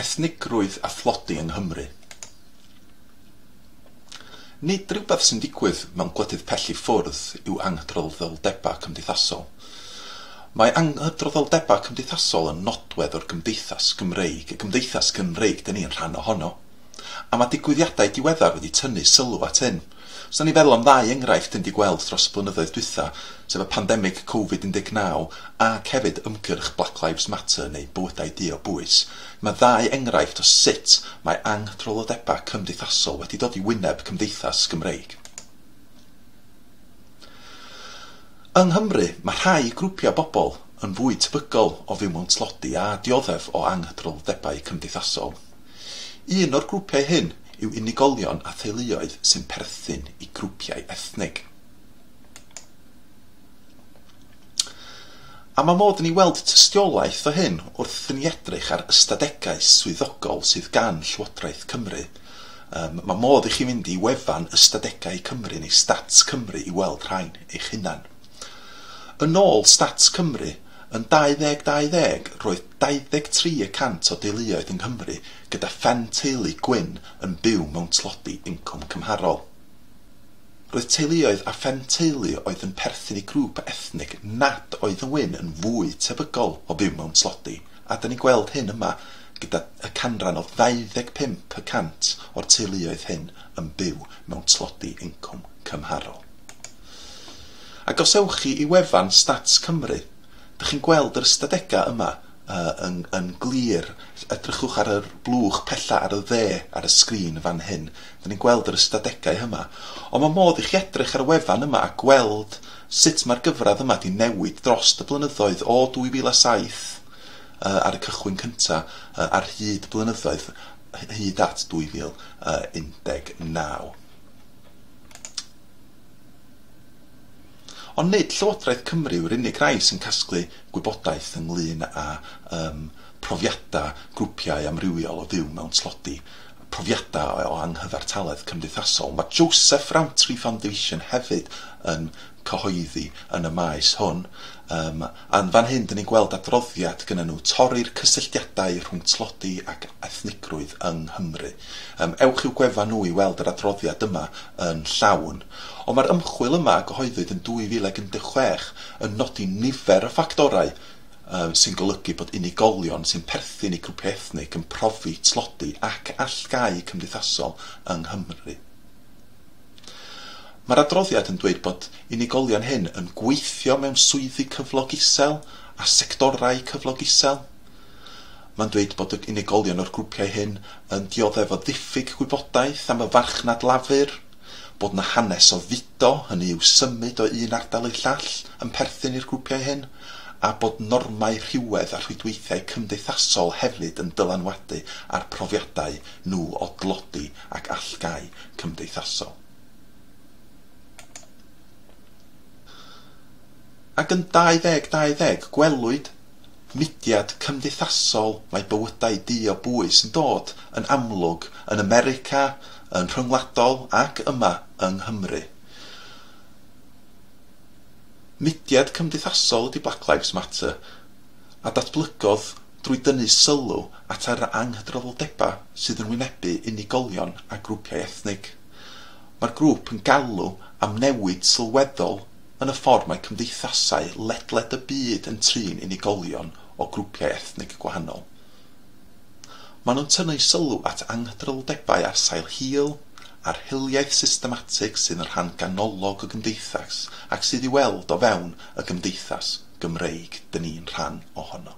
Ethnigrwydd a thlodi yng Nghymru. Nid rhywbeth sy'n digwydd mewn gwledydd pell i ffwrdd yw anghydraddoldebau cymdeithasol. Mae anghydraddoldebau cymdeithasol yn nodwedd o'r gymdeithas Gymreig, y gymdeithas Gymreig 'dyn ni'n rhan ohono, a mae digwyddiadau diweddar wedi tynnu sylw at hyn. Os da ni'n feddwl am ddau enghraifft dyn ni 'di gweld dros y blynyddoedd dwytha, sef y pandemig Covid 19 ac hefyd ymgyrch Black Lives Matter neu Bywydau Du o Bwys, mae ddau enghraifft o sut mae anghdrylodebau cymdeithasol wedi dod i wyneb cymdeithas Gymreig. Yng Nghymru, mae rhai grwpiau bobl yn fwy tebygol o fyw mewn tlodi a dioddef o anghdrylodebau cymdeithasol. Un o'r grwpiau hyn yw unigolion a theuluoedd sy'n perthyn i grwpiau ethnig. A mae modd i ni weld tystiolaeth o hyn wrth i ni edrych ar ystadegau swyddogol sydd gan Llywodraeth Cymru. Um, mae modd i chi fynd i wefan Ystadegau Cymru neu Stats Cymru i weld rhain eich hunan. Yn ôl Stats Cymru, Yn 2020, roedd 23 y cant o deuluoedd yng Nghymru gyda phen teulu gwyn yn byw mewn tlodi incwm cymharol. Roedd teuluoedd â phen teulu oedd yn perthyn i grŵp ethnig nad oedd yn wyn yn fwy tebygol o fyw mewn tlodi, a da ni'n gweld hyn yma gyda y canran o 25 y cant o'r teuluoedd hyn yn byw mewn tlodi incwm cymharol. Ac os ewch chi i wefan Stats Cymru, dych chi'n gweld yr ystadegau yma yn yn glir. Edrychwch ar yr blwch pella ar y dde ar y sgrin fan hyn. Dyn ni'n gweld yr ystadegau yma. Ond mae modd i chi edrych ar y wefan yma a gweld sut mae'r gyfradd yma wedi newid dros y blynyddoedd o 2007 ar y cychwyn cynta ar hyd y blynyddoedd hyd at 2019. Ond nid Llywodraeth Cymru yw'r unig rai sy'n casglu gwybodaeth ynglŷn â um, profiadau grwpiau amrywiol o fyw mewn tlodi, profiadau o anghyfartaledd cymdeithasol. Mae Joseph Rowntree Foundation hefyd yn cyhoeddi yn y maes hwn, um, Yn fan hyn dyn ni'n gweld adroddiad gynnon nhw, Torri'r cysylltiadau rhwng tlodi ac ethnigrwydd yng Nghymru. Yym, ewch i'w gwefan nhw i weld yr adroddiad yma yn llawn. Ond mae'r ymchwil yma a gyhoeddwyd yn 2016 yn nodi nifer o ffactorau yym sy'n golygu bod unigolion sy'n perthyn i grwpiau ethnig yn profi tlodi ac allgáu cymdeithasol yng Nghymru. Mae'r adroddiad yn dweud bod unigolion hŷn yn gweithio mewn swyddi cyflog isel a sectorau cyflog isel. Mae'n dweud bod y unigolion o'r grwpiau hyn yn dioddef o ddiffyg gwybodaeth am y farchnad lafur, bod yna hanes o fudo, hynny yw symud o un ardal i'r llall, yn perthyn i'r grwpiau hyn, a bod normau rhywedd a rhwydweithiau cymdeithasol hefyd yn dylanwadu ar profiadau nhw o dlodi ac allgáu cymdeithasol. Ac yn 2020, gwelwyd mudiad cymdeithasol mae bywydau du o bwys yn dod yn amlwg yn America, yn rhyngwladol ac yma yng Nghymru. Mudiad cymdeithasol ydi Black Lives Matter, a datblygodd drwy dynnu sylw at yr anghydraddoldebau sydd yn wynebu unigolion a grwpiau ethnig. Mae'r grŵp yn galw am newid sylweddol yn y ffordd mae cymdeithasau ledled y byd yn trin unigolion o grwpiau ethnig gwahanol. Maen nhw'n tynnu sylw at anghydraddoldebau ar sail hil, a'r hiliaeth systematig sydd yn rhan ganolog y gymdeithas ac sydd i'w weld o fewn y gymdeithas. Gymreig dyn ni'n rhan ohono.